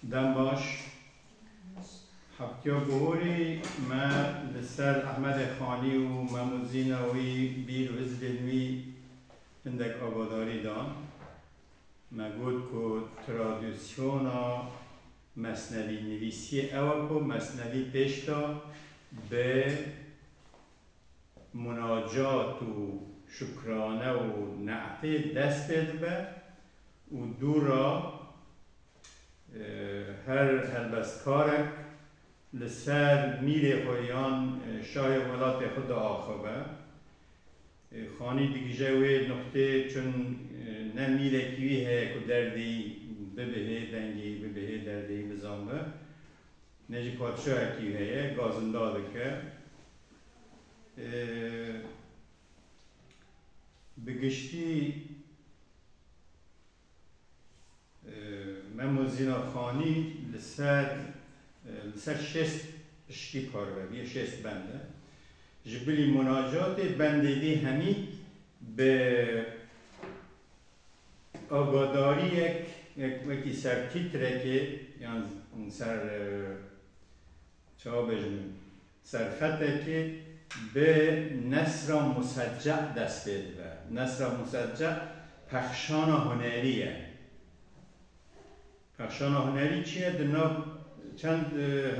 Dem baş. Heptiya Guhorê me li ser Ehmedê Xanî û Mehmûd Zîna wî bîr û hizibên wî hindek agadarî dan. Me got ku tradisyona mesnevînivîsiyê ew e ku mesnevî pêşda bi munacat û şukrane û ne'tê dest pê dibe û dûra her helbestkarek li ser mîrê xwe yan şahê welatê xwe diaxive. Xanî digije wê nuqtê çun ne mîrekî wî heye ku derdê bibihê dengê bibihê derdê bizanbe. Ne jî padişahekî heye gazinda dike. Bi giştî Memo Zîna Xanî li ser li ser şêst piştî parve bûye, şêst bend e. Ji bilî munacatê bendê dî hemî bi Avadariyek wekî ser tîtrekê yan ser çawa bêjim serxetekê bi Nesra Musecce dest pê dibe. Nesra Musecce pexşana hunerî ye. Pexşana hunerî çi ye? Di nav çend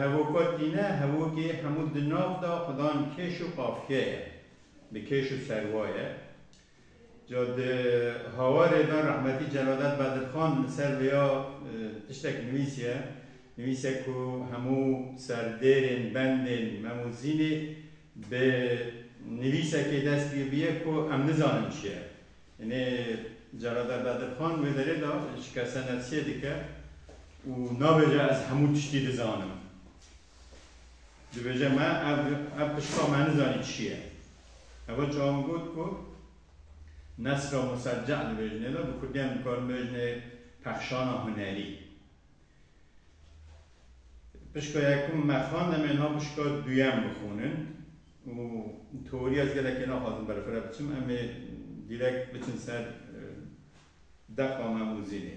hevoka tîne, hevokê hemû di nav de xwe dan kêş û qafiyeye. Bi kêş û serwaye. Ca di hawarê de rehmetî Celadet Bedirxan li ser vê ya tiştek nivîsiye, nivîsiye ku hemû serdêrên, bendên Memûzînê bi nivîsekê dest pê bûye ku em nizanin çi ye. Nê Celadet Bedirxan wê derê de şikesenefsiyê dike û nabêje ez hemû tiştî dizanim. Dibêje me ev ev pişka me nizanî çi ye. Heva çawa min got ku nesra musecce dibêjinê de bi kurdî em dikarin bêjinê pexşana hunerî. Pişka yekim me xwend em ê niha pişka duyem bixwînin û teorî ez gelekê naxwazim berfireh biçim em ê dîrek biçin ser deqa me mûzînê.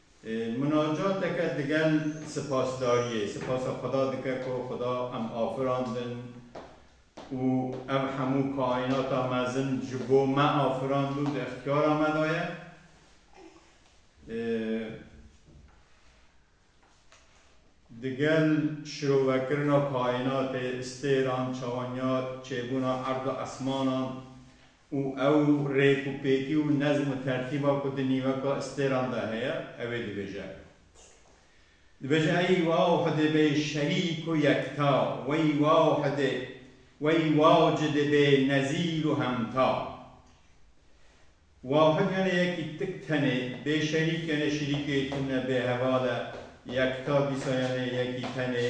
Munacateke digel sipasdariyê, sipasa Xweda dike ku Xweda em afirandin û ev hemû kaînata mezin ji bo me afirand û di îxtiyara me de ye. Digel şirovekirina kaînatê, stêran, çawenyar, çêbûna erd û esmanan, û ew rêk û pêkî û nezm û tertîba ku di nîveka îstêran de heye ew ê dibêje. Dibêje Eyy waw hidê bê şerî ku yekta, weyy waw hidê, weyy waw ci dê bê nezîr û hemta. Wahid yane yekî tik tenê, bê şerîk yane şirîkê tune bê heval e, yekta dîsa yane yekî tenê,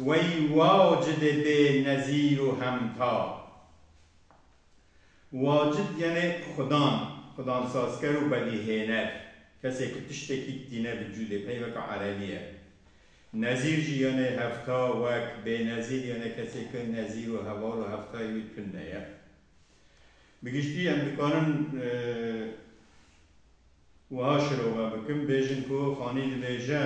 weyy waw ci dê bê nezîr û hemta. Wacid yenê xudan, xudansazker û bedîhêner, kesê ku tiştekî tîne vücûdê, peyveke erebî ye. Nezîr jî yenê hevta, wek, bênezîr yenê kesê ku nezîr û heval û heftayê wî tune ye. Bi giştî em dikarin wiha şirove bikin, bêjin ku xanî dibêje.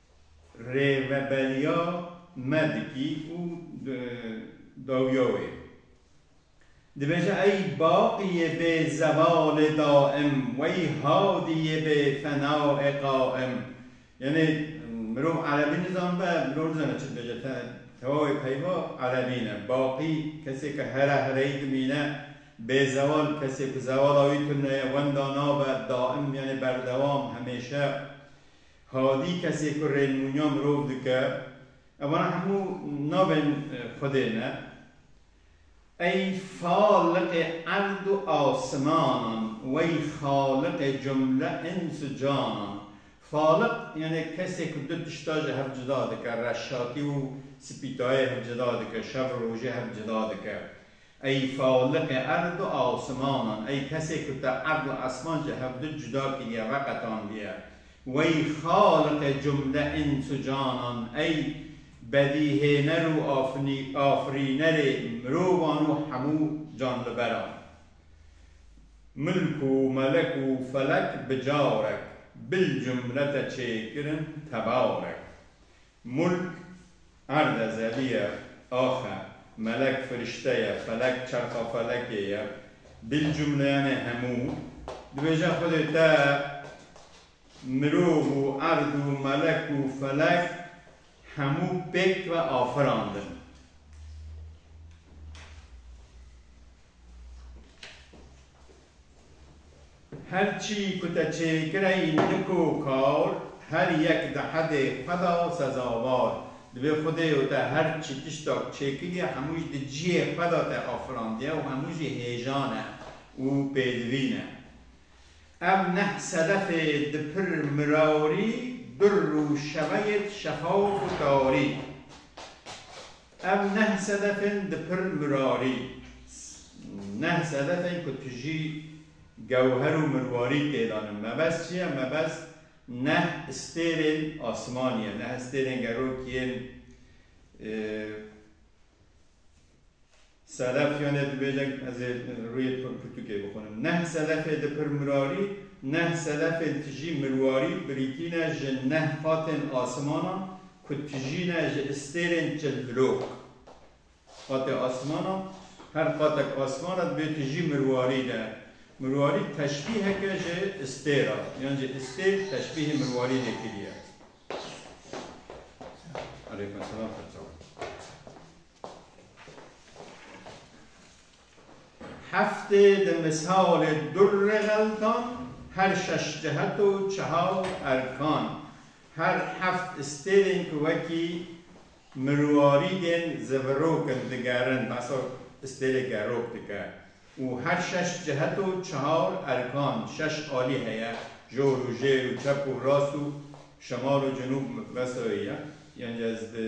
Rêveberiya me dikî û dawiya wê dibêje ey baqî yê bê zevalê daim wey hadî yê bê fenaê qaim. Yanê mirov erebî nizanibe mirov nizane çi dibêje tewawê peyva erebî ne. Baqî kesê ke here hereyî dimîne bê zeval kesê ku zevala wî tune ye wenda nabe daim yanê berdewam hemêşe. Hadî kesê ku rênmûnya mirov dike, evan hemû navên Xwedê ne. Ey Faliqê erd û asimanan, wey Xaliqê cumle îns û canan. Faliq yanê kesê ku du tişta ji hev cuda dike, reşatî û sipîtayê hev cuda dike, şev û rojê hev cuda dike. Ey faliqê erd û asimanan, ey kesê ku te erd û esman ji hev du cuda kiriye, veqetandiye. Wey xaliqê cumle îns û canan, ey bedîhêner û afirînerê mirovan û hemû canliberan. Milk û melek û felek bi carek, bil cumle te çêkirin tebarek. Mulk, erde, zevî ye, ax e, melek, firişte ye, felek, çerxa felekê ye, bil cumleyanê hemû, dibêje Xwedê te mirov û erd û melek û felek hemû pêk ve afirandin. Her çî ku te çêkire înik û kar, her yek di hedê xwe de sezawar. Divê Xwedê û te her çi tiştak çêkiriye hemû jî di cihê xwe de te afirandiye û hemû jî hêjan e û pêdivîn e. Ev neh sedefê di pir mirarî, dur û şeveyêd şefaf û tarî. Ev neh sedefên di pir mirarî, neh sedefên ku tu jî gewher û mirwarî têda ne. Mebest çi ye? Mebest neh stêrên asmanî ye, neh stêrên gerok yên. Selefyanê dibêje ez ê rûyê pirtûkê bixwînim. Neh selefê di pirmirarî, neh selefên tijî mirwarî birîtî ne ji neh qatên asimanan ku tijî ne ji istêrên çilhilok. Qatê asimanan, her qatek asiman re dibê tijî mirwarî de. Mirwarî teşbîhek e ji istêr a, yan jî istêr teşbîhê mirwarî de kiriye. Aleykum selam Xeçav. Heftê di misalê durrê xeltan her şeş cihet û çehal erkan, her heft stêrên ku wekî mirwarî tên zivirok in digerin, behsa stêrê gerok dike û her şeş cihet û çehal erkan, şeş alî heye, jor û jêr û çep û rast û şimal û cinûb, behsa wê ye. Yanî ez di.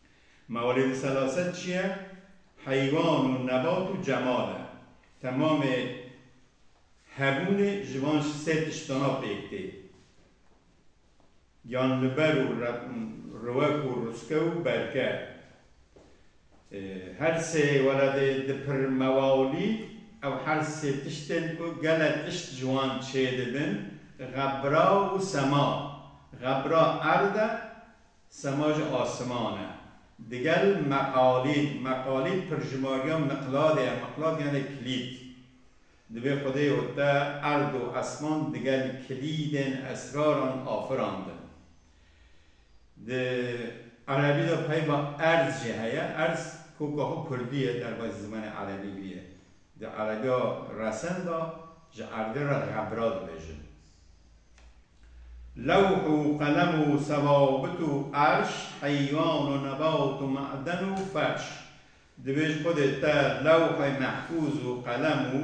Ma welê di selaset çi ye? Heywan û nebat û cemal e. Temamê hebûnê ji van sê tiştana pêk tê. Giyanliber û riwek û ruske û berke. Her sê weredê di pir mewalî ew her sê tiştên ku gele tişt ji wan çêdibin, xebra û sema. Xebra erd e, Sema ji asiman e. Digel meqalîd, meqalîd pirjimariya miqladê ye, miqlad yanê kilîd. Divê Xwedê û te erd û esman digel kilîdên esraran afirandin. Di erebî de peyva erz jî heye, erz koka xwe kurdî ye derbasî zimanê erebî bûye. Di erebiya resen de ji erdê re xebra dibêjin. Lewh û qelem û sewabit û erş, heywan û nebat û maden û ferş. Divê ji Xwedê te lewhê mehfûz û qelem û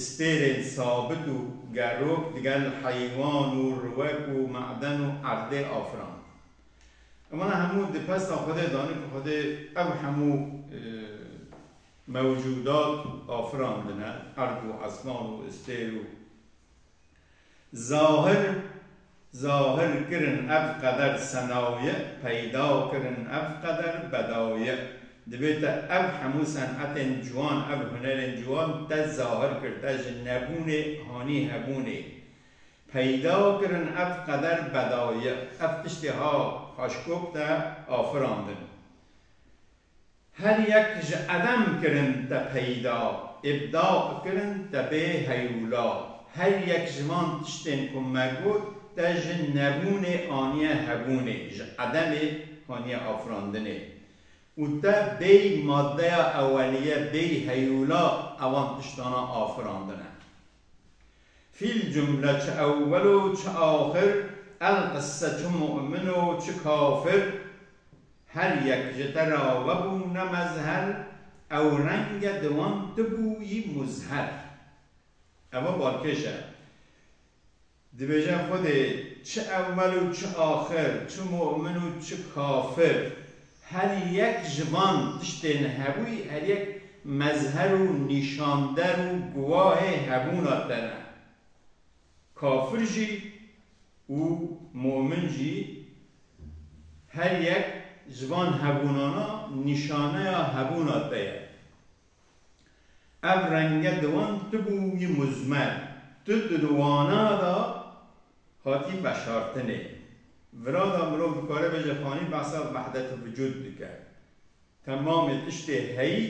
stêrên sabit û gerok digel heywan û riwek û maden û erdê afirand. Wana hemû di pesta Xwedê danî ku Xwedê ev hemû mewcudat afirandine, erd û esman û stêr û. Zahir zahir kirin ev qeder senaye peyda kirin ev qeder bedaye dibê te ev hemû senetên ciwan ev hunerên ciwan te zahir kir te ji nebûnê hanî hebûnê peyda kirin ev qeder bedaye ev tiştê ha haşkok te afirandin Her yek ji edem kirin te peyda, îbda kirin te bê heyûla. Her yek ji van tiştên ku me got te ji nebûnê aniye hebûnê, ji edemê haniye afirandinê. Û te bêy madeya eweliye, bêy heyûla evan tiştana afirandine. Fîl cumle çi ewwel û çi axir, el qisse çi mu'min û çi kafir, her yek ji te re vebûne mezher, ew renge di wan tu bûyî muzher. Ev a balkêş e. Dibêje Xwedê çi ewwel û çi axir, çi mu'min û çi kafir, her yek ji van tiştên hebûyî her yek mezher û nîşander û guwahê hebûna te ne. Kafir jî û mu'min jî her yek ji van hebûnana nîşaneya hebûna te ye. Ev renge di wan tibû wî muzmer, tu di wana da hatî veşartinê. Vira da mirov dikare bêje fanî behsa vehdet-i vicûd dike. Temamê tiştê heyî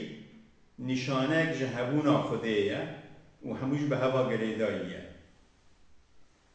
nîşaneyek ji hebûna xwedê ye û hemû jî bi heva girêdayî ye.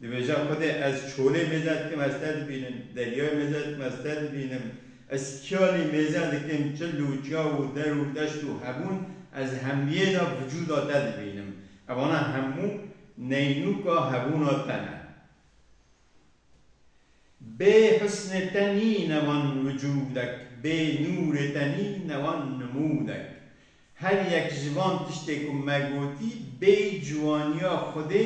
Dibêje Xwedê ez çolê mêze dikim ez te dibînim, deryayê mêze dikim ez te dibînim, ez kiyalê mêze dikim çil û çaw û der û deşt û hebûn ez hemiyê de vücuda te dibînim. Evana hemû neynûka hebûna te ne. Bê husnê te nîne wan wicûdek, bê nûrê te nîne wan nimûnek. Her yek ji van tiştê ku me gotî bê ciwaniya Xwedê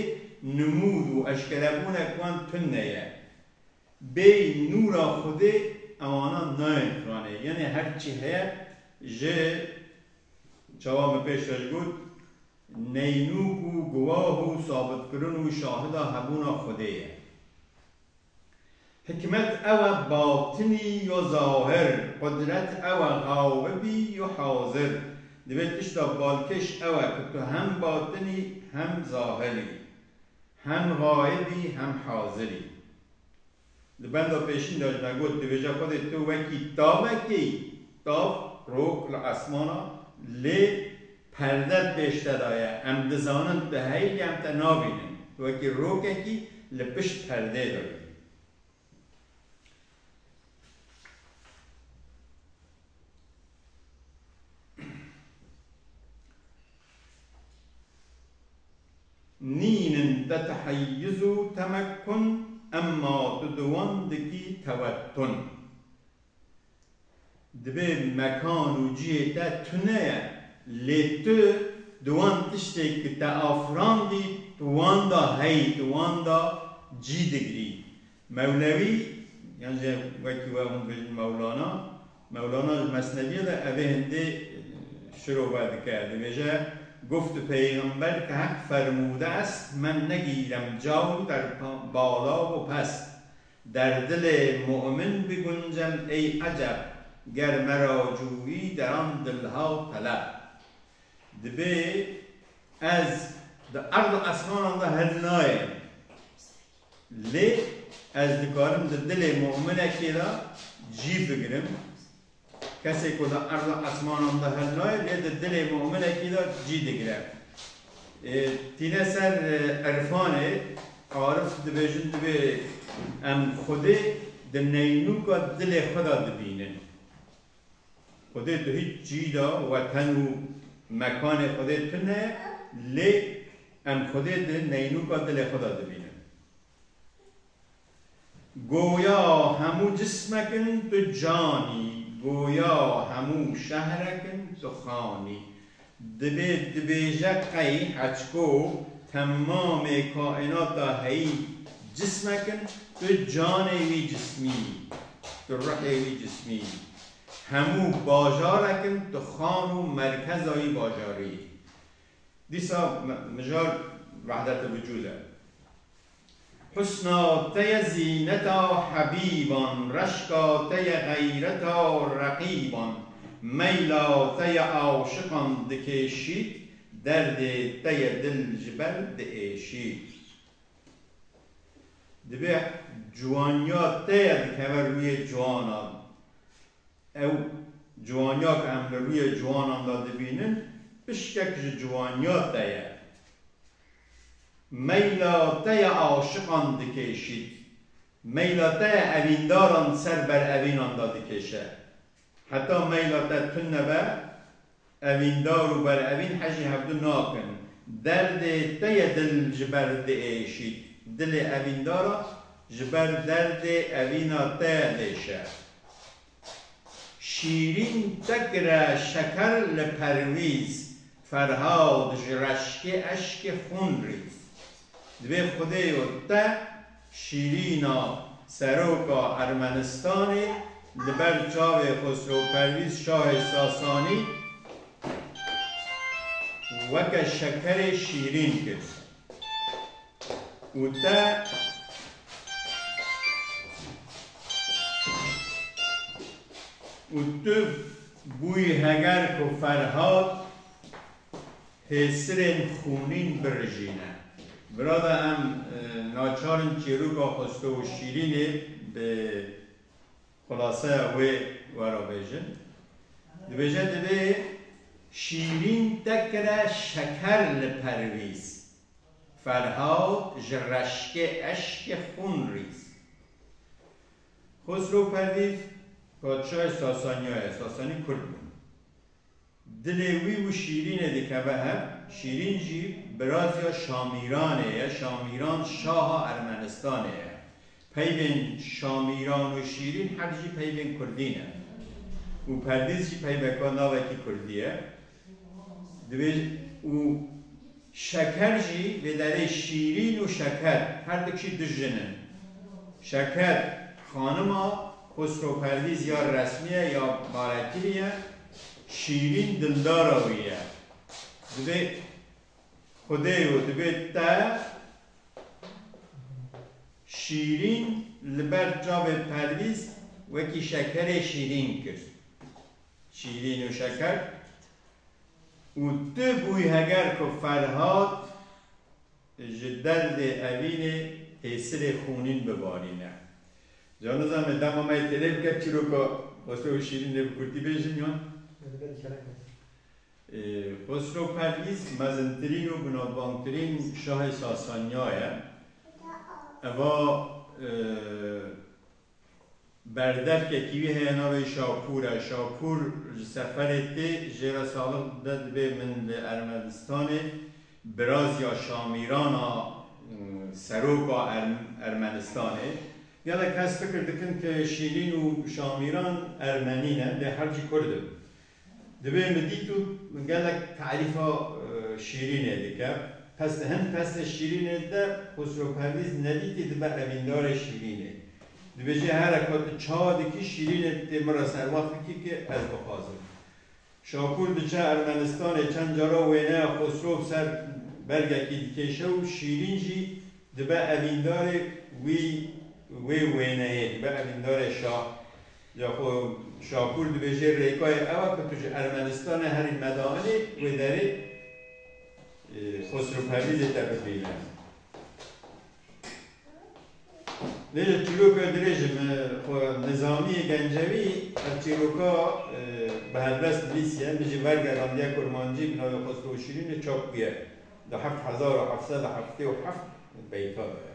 nimûd û eşkerebûnek wan tune ye. Bê nûra Xwedê ewana nayên xizanê. Yanê her çi heye ji çawa me pêş ve ji got, Neynûk û guwah û sabitkirin û şahida hebûna Xwedê ye. Hikmet ew e batinî yo zahir, qudret ew e xaibî yo hazir. Divê tişta balkêş ew e ku tu hem batin î hem zahir î, hem xaib î hem hazir î. Di benda pêşîn de jî me got, dibêje Xwedê tu wekî tavekê yî, tav rok li esman a, lê perde pêş te de ye, em dizanin tu heyî lê em te nabînin, tu wekî rokekî li pişt perdê de yî. Nîn in te teheyyuz û temekkun emma tu di wan dikî tewettun. Dibê mekan û cihê te tune ye lê tu di wan tiştê ku te afirandî tu wanda heyî tu wanda cî digirî. Mewlewî, yan jî wekî we hûn dibêjin Mewlana, Mewlana ji Mesnevîyê de evê hindî şirove dike, dibêje, Guft peyxember ke Heq fermûde est, men negîrem cawr der bala û pest. Der dilê mu'min biguncem ey eceb, ger me ra cûyî deran dilha teleb. Dibê ez di erd û esmanan de hilnayêm. Lê ez dikarim di dilê mu'minekê de cî bigirim. Kesê ku di erd û esmanan de hil nayê, lê di dilê mu'minekî de cî digire. Tîne ser irfanê, arif dibêjin divê em Xwedê di neynûka dilê xwe de dibînin. Xwedê tu hiç cî de weten û mekanê Xwedê tune lê em Xwedê di neynûka dilê xwe de dibînin. Goya hemû cismek in tu canî, goya hemû şehrekin tu xanî. Divê dibêje qey heçko temamê kaînata heyî cismek in, tu canê wî cismî, tu ruhê wî cismî. Hemû bajarek in, tu xan û merkeza wî bajarî yî. Dîsa mijar wehdete vucûd e. Husna te ye zîneta hebîban, reşka te ye xeyreta reqîban, meyla te ye aşiqan dikêşît, derdê te ye dil ji ber diêşît. Divê ciwaniya te ye dikeve rûyê ciwanan. Ew ciwaniya ku em li rûyê ciwanan de dibînin, pişkek ji ciwaniya te ye. Meyla te ya aşiqan dikêşît. Meyla te ya evîndaran ser ber evînan de dikêşe. Heta meyla te tund nebe, evîndar û berevîn hejî hevdu nakin. Derdê te ya dil ji ber diêşît. Dilê evîndara ji ber derdê evîna te ya diêşe. Şîrîn tekire şeker li perwîz Ferhad ji reşkê eşkê xûn rîz Dibê xwedê yo te Şîrîna seroka Ermenistanê li ber çavê Xosro Perwîz şahê Sasanî weke şekerê şîrîn kir. û te û tu bûyî heger ku Ferhat pêsirên xûnîn birijîne. Birada em naçar in çîroka Xwesto û Şîrînê bi xulaseya wê were bêjin. Dibêje divê Şîrîn te kire şeker li perwîz. Ferhad ji reşkê eşkê xûn rîz. Xosro Pervîz padşahê Sasaniya ye, Sasanî Kurd bûn. Dilê wî û Şîrînê dikeve hev, Şîrîn jî birazîya Şamîranê ye, Şamîran şaha Ermenistanê ye. Peyvên Şamîran û Şîrîn hev jî peyvên Kurdî ne û Pervîz jî peyveka navekî Kurdî ye. Divêj û şeker jî vê derê şîrîn û şeker her du kişî du jin in. Şeker xanima Xusro Pervîz ya resmî ye ya barekirî ye, şîrîn dildara wî ye. Divê xwedê yo divê te şîrîn li ber çavê Pervîz wekî şekerê şîrîn kir. Şîrîn û Şeker û tu bûyî heger ku Ferhat ji derdê evînê hêsirê xûnîn bibarîne. Ca nizanime dema me yê têlê bike çîroka Xosro û Şîrîn dê bi kurtî bêjim yan? Dê bibe dîkele kurtî. Xosro Pervîz mezintirîn û binavbangtirîn şahê Sasaniya ye. Eva Berdevkekî wî heye navê wî Şapûr e. Şapûr ji seferê tê jê re salix dide dibê min li Ermenistanê birazya Şamîran a seroka Ermenistanê. Gelek kes fikir dikin ke Şîrîn û Şamîran Ermenî ne lê her cî Kurd in. Divê min dît û min gelek tarîfa şîrînê dike. Peste hin peste şîrînê dide. Xosro Perwîz nedîtî dibe evîndarê şîrînê. Dibêje here ka tu ça dikî şîrînê dikê min re servax bikî ki ez bixwazim. Şakûr diçe Ermenistanê çend cara wêneya Xosro bi ser bergekî dikêşe û şîrîn jî dibe evîndarê wî wê wêneyê dibe evîndarê şa. Ya xwe Şakûr dibêjê rêkayê ew e ku tu ji Ermenistanê herî medaanî wê derê Xosrû Perwîzê te bibîne. Lê ji çîroka dirêj e min xwe nizamiyê gencewî ev çîroka bi helbest nivîsiye, min jî wergerandiye kurmancî bi navê Xosrû û Şîrînê çap bûye di heft hezar û heft sed û heftê û heft beyta de ye.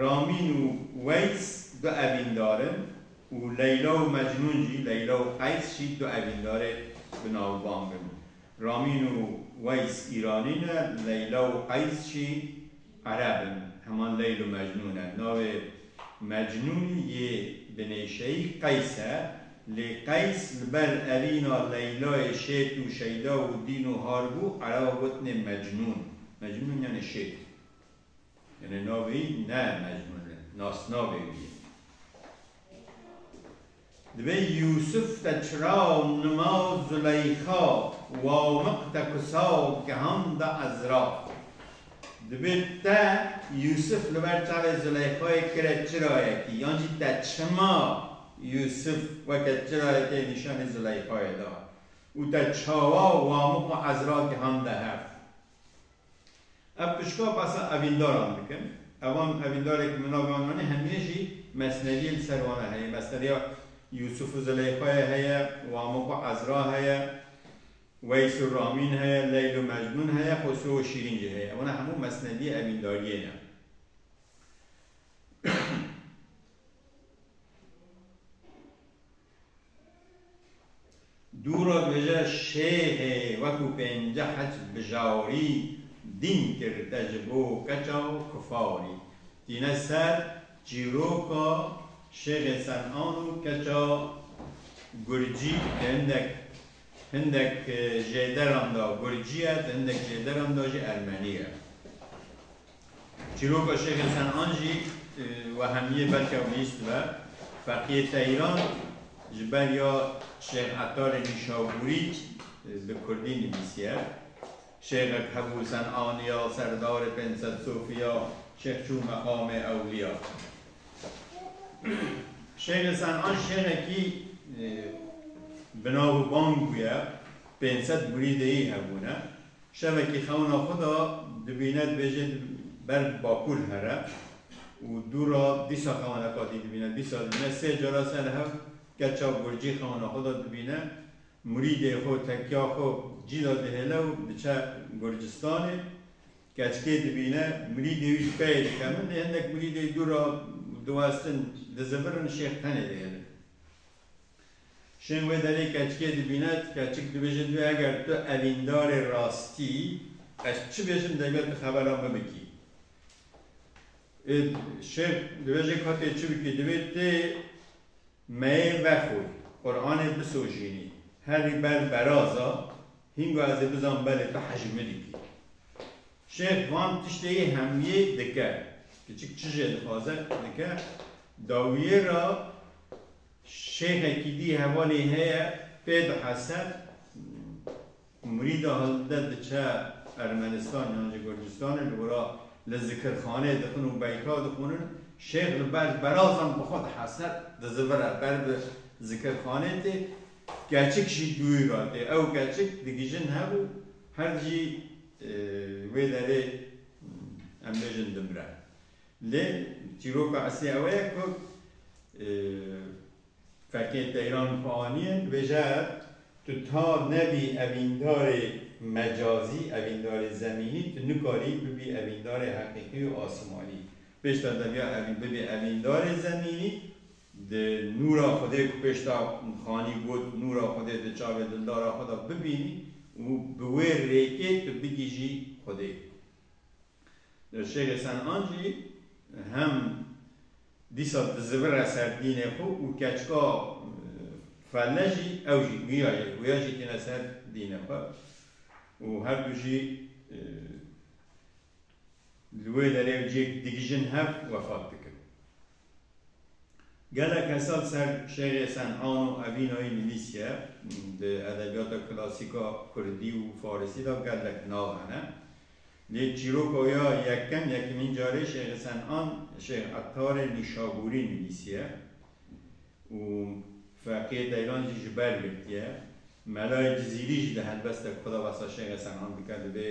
Ramîn û Weys du evîndar in û Leyla û Mecnûn jî, Leyla û Qeys jî du evîndarê binavbang in. Ramîn û Weys Îranî ne, Leyla û Qeys jî Ereb in, heman Leyl û Mecnûn e. Navê Mecnûn yê binêşeyî Qeys e, lê Qeys li ber evîna Leylayê şêt û şeyda û dîn û har bû, Ereban gotinê Mecnûn. Mecnûn yanê şêt. Yane navê ne mecnun e, nasnavê wî ye. Divê Yûsif te çira nima Zuleyxa Wamiq te kusa gihanda Ezra. Divê te Yûsif li ber çavê Zuleyxayê kire çirayekî yan jî te çima Yûsif weke çirayekê nîşanî Zuleyxayê da û te çawa Wamiq û Ezra gihanda hev. Ev pişka basa evîndaran dikin. Evan evîndarê ku min navê wan anî hemiyê jî mesneviyê li ser wan a heye. Mesneviya Yûsûf û Zileyxayê heye, Wamik û Ezra heye, Weys û Ramîn heye, Leyl û Mecnûn heye, Xosrû û Şîrîn jî heye. Wana hemû mesneviyê evîndariyê ne. Dûra dibêje Şêxê wekû pênceh hec bijarî dîn kir te ji bo keça û kufarî. Tîne ser çîroka Şêxê Senan û keça Gurcî di hindek hindek jêderan de Gurcî ye, di hindek jêderan de jî Ermenî ye. Çîroka Şêxê Senan jî wehemiyê belke wî dibe. Feqiyê Teyran ji ber ya Şêx Ettarê Nîşabûrî bi kurdî nivîsiye. Şêxek hebû Senaniya, Serdarê Pênc Sed Sofiya, Şêx çû Meqamê Ewliya. Şêxê Senan şêxekî bi nav û bang bûye, pênc sed murîdeyî hebûne. Şevekî xewna xwe da dibîne dibêje ber bi bakur here û dû ra dîsa xewna qatî dibîne dîsa dibîne sê cara ser li hev keça gurcî xewna xwe da dibîne murîdê xwe tekya xwe cî da dihêle û diçe gurcistanê keçikê dibîne murîdê wî ji peyê dike min dê hindek murîdê dû ra diwestin dizivirin şêx tenê dihêlin. Şên wê derê keçikê dibîne, ti keçik dibêje tu eger tu evîndarê rastî ez çi bêjim degme tu xeberan bibikî. Êd şêr dibêje ka tê çi bikî divê tê meyê vexwî, Quranê bisojînî, herî ber beraza Hînga ez ê bizan belê tu hej min dikî. Şêx van tiştê yê hemiyê dike. Kiçik çi jê dixwaze dike. Dawiyê ra şêxekî dî hevalê heye pê dihese murîda hilde diçe Ermenistan yan jî Gurcistanê li wira li zikirxanê dixin û beyta dixwinin. Şêx li ber berazan bi xwe dihese dizivire ber bi zikirxanê tê. Keçik jî dûy ra tê. Ew keçik digijin hev û herd jî wê derê em bêjin dimre. Lê çîroka eslî ew ye ku fekên teyran ku anîn dibêje tu ta nebî evîndarê mecazî, evîndarê zemînî tu nikarî bibî evîndarê heqîqî û asimanî. Pêşta deviya bibî evîndarê zemînî Di nûra Xwedê ku pêş da Xanî got, Nûra Xwedê di çavê dildara xwe de bibînî û bi wê rêkê tu bigihîjî Xwedê. Li Şêxê Sen'an jî hem dîsa dizivire ser dînê xwe û keçika felle jî ew jî guya ye, guya jî tîne ser dînê xwe û herdu jî Li wê derê cih dig jin hev wefat dikin. Geleke sal ser Şêxê Sen'an û Evînayî nivîsiye, di edebiyata klasîk a kurdî û farisî de gelek nav hene. Lê çîroka wê a yekem, yekemîn carê Şêxê Sen'an Şêx Ettarê Nîşabûrî nivîsiye û feqiyê Teyran jî ji ber girtiye. Melayê Cizîrî jî di helbestek xwe de behsa Şêxê Sen'an dike, divê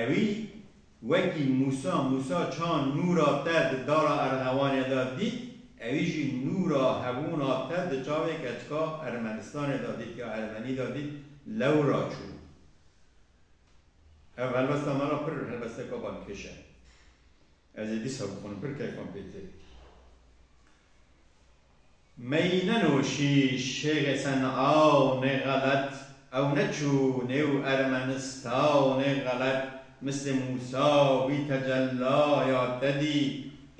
Ewî wekî Mûsa, Mûsa ça nûra te di dara Erxewanê de dît, ewî jî nûra hebûna te di çavê keçika Ermenistanê de dît ya Ermenî de dît, lewra çû. Ev helbesta me re pir helbesteka balkêş e. Ez ê dîsa bixwînim pir keyfan pê tê. Meyî nenoşî şêxê se niaw nê xelet ew neçû nêw ermenistaw nê xelet mislê Mûsa wî tecella ya te dî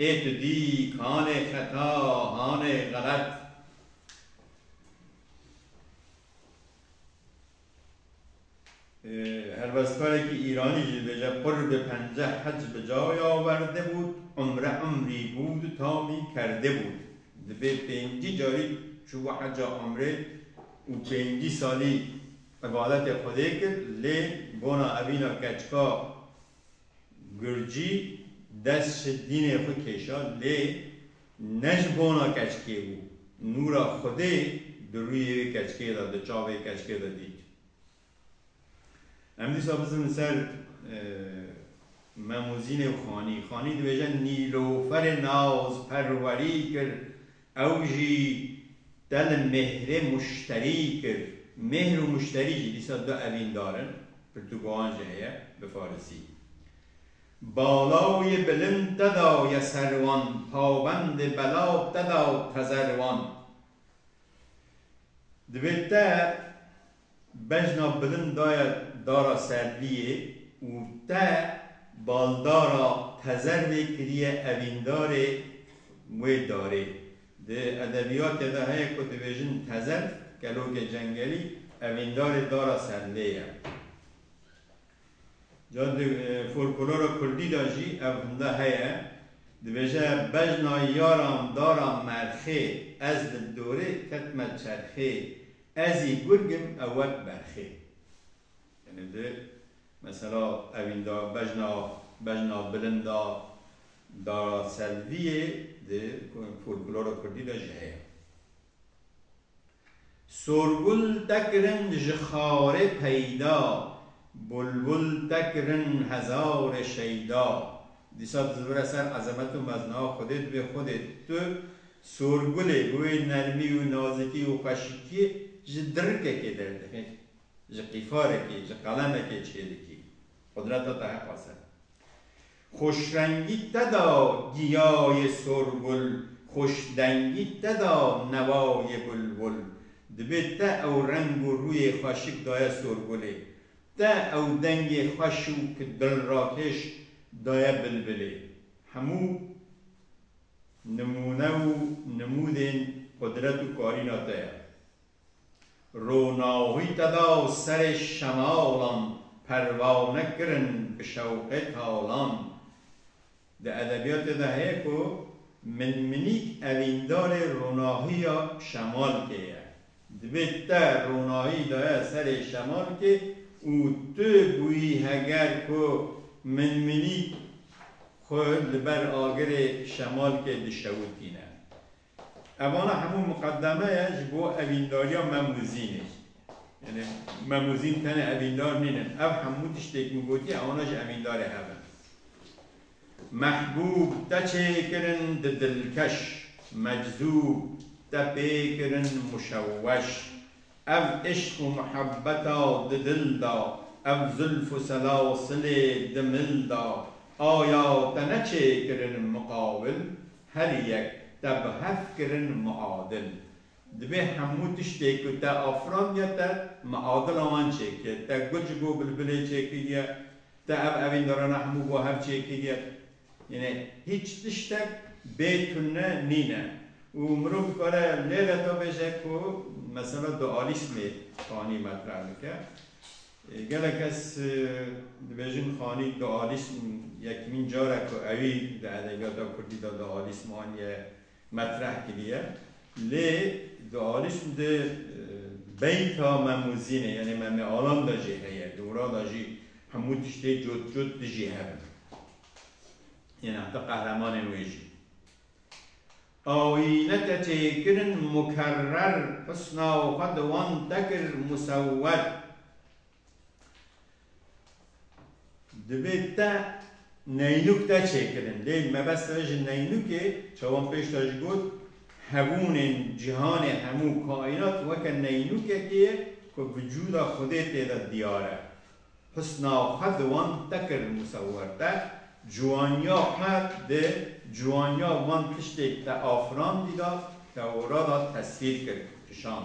ê tu dî kanê xeta hanê xelet. Helwestkarekî Îranî jî dibêje qurbe penceh hec bi cayê awerde bût, umre umrî bûd tamî kerde bûd. Dibê pêncî carî çûbû heca umrê û pêncî salî îbadetê Xwedê kir lê bona evîna keçika Gurcî dest ji dînê xwe kêşa lê ne ji bona keçikê bû. Nûra Xwedê di rûyê wê keçikê de, di çavê keçikê de dît. Em dîsa bizin li ser Memûzînê û Xanî. Xanî dibêje nîloferê naz perwerî kir Ew jî te li mêhrê muşterî kir. Mêhr û muşterî jî dîsa du evîndar in, pirtûkoan jî heye bi farisî. Bala û yê bilind te daw ye ser wan, pawendê belav te daw tezer wan. Divê te. Bejna bilind daye dara Sedliyê û te baldara Tezervê kiriye evîndarê wê darê. Di edebiyatê de heye ku dibêjin Tezerv, kelokê cengelî, evîndarê dara Sedlê ye. Ca di folkolora kurdî de jî ev hinda heye. Dibêje Bejna yaran dara Merxê ez li dorê ketme çerxê Ez î gurg im ewek berxê. Yanî di mesela evîn da bejna bejna bilind a dara Selviyê di folklora kurdî de jî heye. Sorgul tekirin ji xarê peyda, bulbul tekirin hezarê şeyda. Dîsa dizivire ser ezemet û mezna Xwedê dibê Xwedê tu Sorgulê bi wê nermî û nazikî û xweşikiyê ji dirikekê derdixî, ji qîfarekê, ji qelemekê çêdikî. Qudreta te heqa ser. Xoşrengî te da giyayê sorgul, xoşdengî te da newayê bulbul. Dibê te ew reng û rûyê xweşik daye sorgulê. Te ew dengê xweş û ki dilrakêş daye bilbilê. Hemû nimûne û nimûdên qudret û karîna te ye. Ronahî te da û serê şemalan perwane kirin bi şewqê talan. Di edebiyatê de heye ku min-minîk evîndarê ronahîya şemalkê ye. Divê te ronahî daye serê şemalkê û tu bûyî heger ku minmînîk xwe li ber agirê şemalkê dişewitîne. Evana hemû miqedeme ye ji bo evîndariya me Muzînê. Yanî me Muzîn tenê evîndar nînin. Ev hemû tiştê ku min gotî evana jî evîndarê hev in. Mehbûb te çêkirin di dilkeş, meczûb te pê kirin muşewweş. Ev îşq û muhebbeta di dil de, ev zulf û selasilê di mil de, aya te ne çêkirin miqawil, her yek te bi hev kirin miadil. Dibê hemû tiştê ku te afirandiye te miadila wan çêkiriye. Te guc bo bilbilê çêkiriye, Te ev evîn derana hemû bo her çi yekî diye yêne hîç tiştek bê tune nîne û mirov dikare lê re da bêje ku mesela dualîsmê Xanî metreh dike. Gelek kes dibêjin Xanî dualîsm yekîmîn car e ku ewî di edebiyata kurdî de dualîsm aniye metreh kiriye lê di alîşm de beyta Memûzînê yanê Memêalan de jî heye, dûra de jî hemû tiştê cot cot dijî hev in. Yên heta qehremanên wê jî. Ayîne te çêkirin mukerrer, husna xwe di wan te kir musewwer. Divê te neynûk te çêkirin. Lê mebest re ji neynûkê, çawan pêşda jî got, hebûnên cîhanê hemû kaînat weke neynûkekê ye ku vücûda Xwedê tê de diyar e. Husna xwe di wan te kir musewwer. Te ciwaniya xwe di ciwaniya van tiştê te afirandî de Tewrada tesvîr kir, kişand.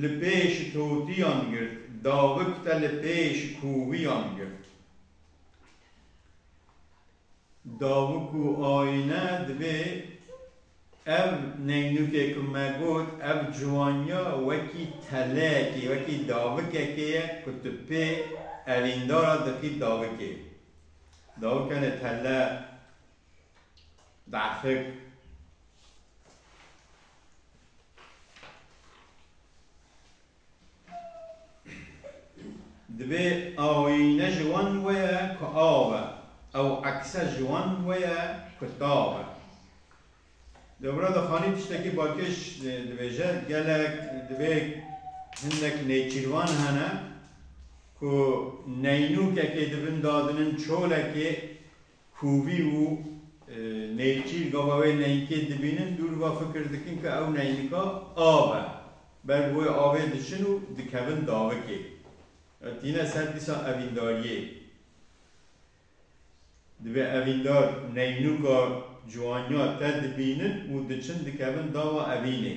li pêş totiyan girt, davik te li pêş koviyan girt. Davik û ayîne divê ev neynûkê ku me got, ev ciwaniya wekî teleyekê, wekî davikekê ye ku tu pê evîndara dixî davikê. Davik hene tele. Dehfek Divê ayîne ji wan weye ku av e, ew ekse ji wan weye ku tav e. Dewra Dixanî tiştekî balkêş dibêje, gelek divê hindek nêçîrvan hene ku neynûkekê di bin dadinin çolekê, Kovî û Nêçîr gava wê neynikê dibînin, dû li va fikir dikin ku ew neynika av e. Ber bi wê avê diçin û dikevin davikê. Ew tîne ser dîsa evîndariyê. Divê evîndar neynuka ciwaniya te dibînin û diçin dikevin dava evînê.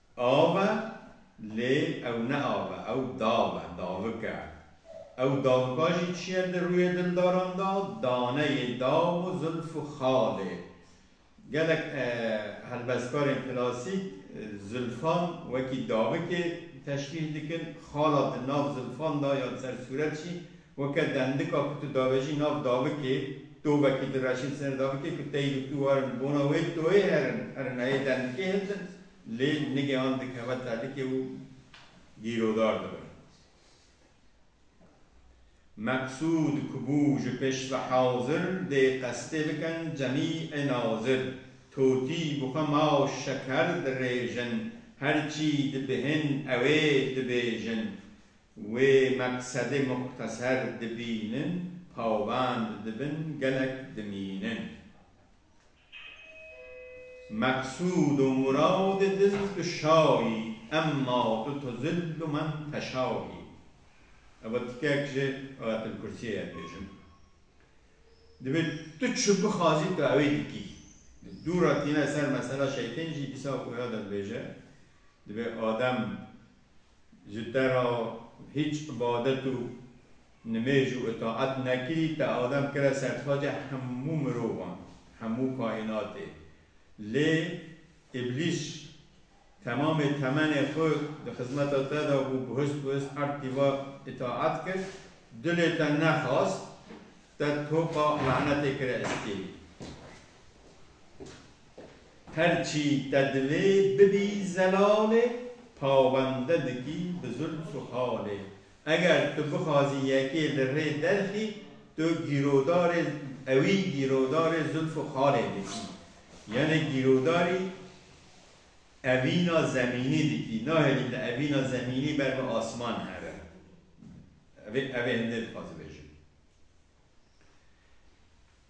Av e, lê ew ne av e, ew dav e, davik e. Ew davika jî çi ye di rûyê dildaran de? Daneyê daw û zulf û xal ê. Gelek helbestkarên klasîk zulfan wekî davikê teşbîh dikin, xala di nav zulfan de ya li ser sûret jî Weke dendika ku tu davejî nav davikê, to vekî direşin ser davikê ku tey û tu warin bona wê toyê herin, herin heyê dendikê hildin lê nigê an dikeve tedikê û gîrodar dibin. Meqsûd ku bû ji pêş ve hazir dê qestê bikin cemî ê nazir, totî bi xwe ma û şeker dirêjin, her çî dibihên ewê dibêjin. Wê meqsedê muxteser dibînin, pawend dibin, gelek dimînin. Meqsûd û muradê diz bi şayî, emma tu tu zil û min teşayî. Ev tikek ji Ayetelkursiyê ye dibêjim. Divê tu çi bixwazî tu ewê dikî. Di dû re tîne ser mesela şeytên jî dîsa ku ya de dibêje, divê adem Ji te ra hîç ibadet û nimêj û itaet nekî, te Adem kire sertaca hemû mirovan, hemû kaînatê. Lê Îblîs temamê temenê xwe di xizmeta te de bû, bihust bihust erd tîva îtaet kir, dilê te nexwast, te toqa lanetê kire estî. Her çî te divê bibî zelalê Pawende dikî bi zulm û halê Eger tu bixwazî yekê li rê derxî Tu gîrodarê ewî gîrodarê zulm û halê dikî Yanê gîrodarî evîna zemînî dikî Nahêlî tu evîna zemînî ber bi asman here Ev ê hindê dixwazibêjim.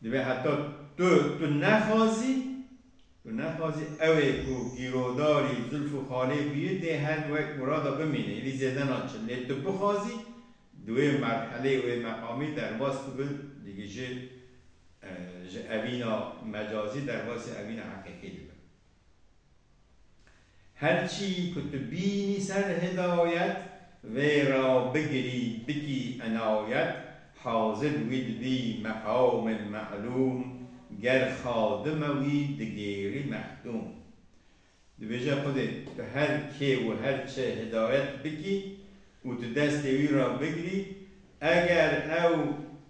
Divê heta tu, tu nexwazî, tu nexwazî ew ê ku gîrodarî Zilf û Xalê bûye dê hen wek murada bimîne, êdî zêde naçin. Lê tu bixwazî di wê merhelê, wê meqamê derbas bibin, digije ji evîna mecazî derbasî evîna heqîqî dibin. Her çî ku tu bînî ser hidayet, vê ra bigirî bikî enayet, hazir wî dibî meqamên me'lûm, ger xadim e wî digêrî mehdûm. Dibêje Xwedê tu her kê û her çi hidayet bikî û tu destê wî ra bigirî, eger ew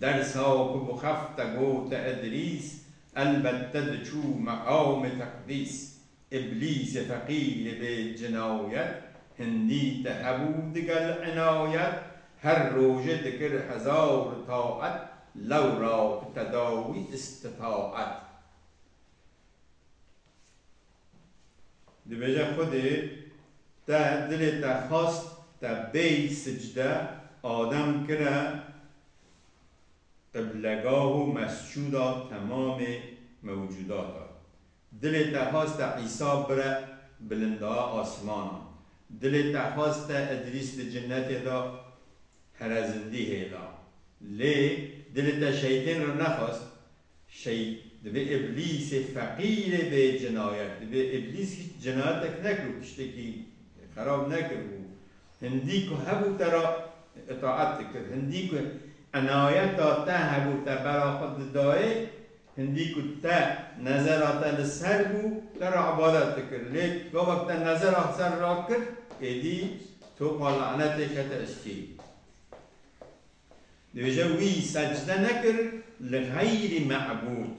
Dersa ku bi xef te gote Edrîs, elbet te diçû meqamê teqdîs. Îblîsê feqîrê bê cinayet, hindî te hebû digel inayet. Her rojê dikir hezar taet, lewra bi te da wî îstitaet. Dibêje Xwedê te dilê te xwest te bêy sicde Adem kire qiblegah û mescuda temamê mewcudata. Dilê te xwest te Îsa bire bilindaa asmanan. Dilê te xwest te Îdrîs di cinnetê de herezindî hêla. Lê dilê te şeytên re nexwest Şey, divê îblîsê feqîrê bê cinayet, divê îblîs hîç cinayetek nekir û tiştekî xerab nekir û hindî ku hebû te ra îtaet dikir, hindî ku enayeta te hebû te bera xwe didayê, hindî ku te nezera te li ser bû te ra îbadet dikir. Lê gava ku te nezera ser rakir êdî topa lanetê kete îstî. Dibêje wî secde nekir li xeyrî mebûd,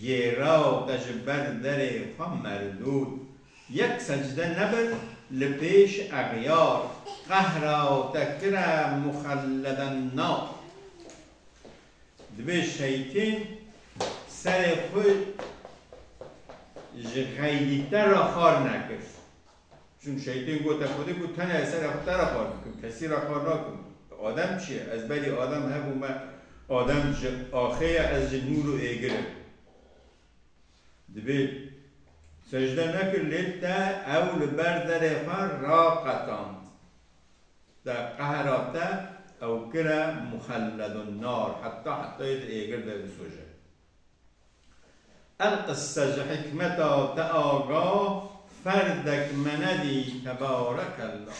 gêraw te ji ber derê xwe merdûd. Yek secde nebir li pêş exyar, qehraw te kire muxelleden nar. Dibê şeytên serê xwe ji xeyrî te re xar nekir. Çün şeytên gote Xwedê ku tene ez serê xwe te re xwar dikim, kesî re xwar nakim. Adem çi ye? Ez berî Adem hebû me Adem ji axê ye ez ji nûr û êgir im. Divê secde nekir lê te ew li ber derê xwe raqetand. Di qehra te ew kire muxelledun nar heta hetayê di êgir de bisoje. Ev qise ji hikmeta te aga ferdek menedî tebarekella.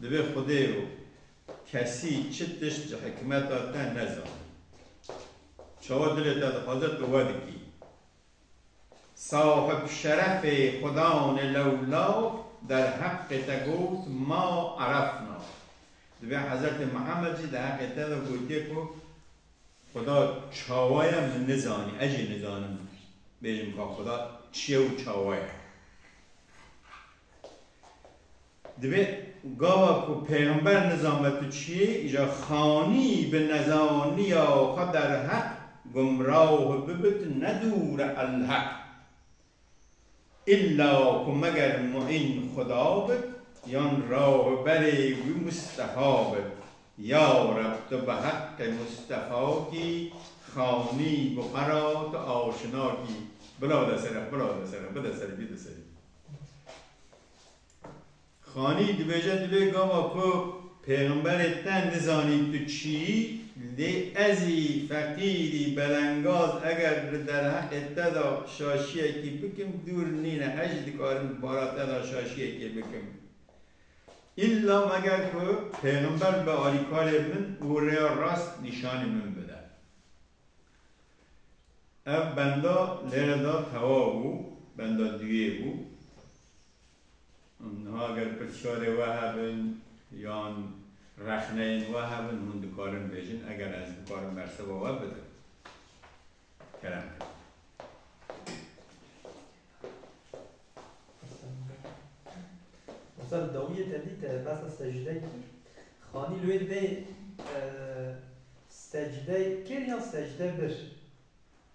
Divê xwedê û kesî çi tişt ji hikmeta te nezanî. Çawa dilê te dixwaze tu we dikî. Sahib şerefê xwedanê lewlav derheqê te got ma erefna. Divê Hezretê Mihemed jî di heqê te de gotiye ku Xweda çawa ye min nizanî, ez jî nizanim bêjim ka xweda çi ye û çawa ye. Divê gava ku pêxember nizanbe tu çi yî, îja xanî bi nezaniya xwe derheq gumraw bibe tu ne dûr e Elheq. Îlla ku meger muîn Xuda bit yan rahûberê wî Mustefa bit. Ya Reb tu bi heqê Mustefa kî xanî bi xwe ra tu aşina kî. Bila li ser e, bila li ser e, bide serî, bide serî. Xanî dibêje di vê gava ku Pêxemberê te nizanî tu çi yî, lê ezî feqîrî belengaz eger li derheqê te de şaşiyekî bikim dûr nîne ez jî dikarim di bara te de şaşiyekê bikim. Îlla meger ku Pêxember be alîkarê min û rêya rast nîşanî min bide. Ev benda lêre de tewa bû, benda duyê bû. Niha eger pirsyarê we hebin yan rexneyên we hebin hûn dikarin bêjin eger ez bikarim bersiva we bidim. Kerem kir. Usta dawiyê te dît e besa secdeyê kir. Xanî li wê divê secdeyê kir yan secde bir?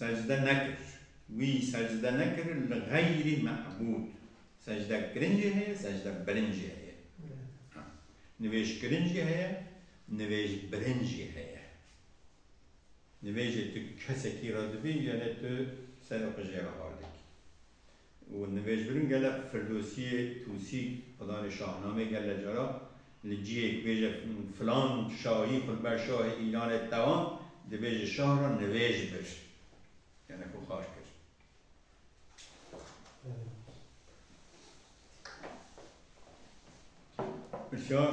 Secde nekir, wî secde nekir li xeyrî mebûd. Secdekirin jî heye, secdebirin jî heye. Nivêjkirin jî heye, nivêjbirin jî heye. Nivêjê tu kesekî re dibî, gelê tu serê xwe jê re hal dikî. û nivêjbirin gele Firdosiyê Tusî Xwedanê Şahnamê gele cara li cihêk bêje filan şahî xwe li ber şahê Îranê tewand dibêje şah re nivêj bir yane xwe xar kir. Pirsyar.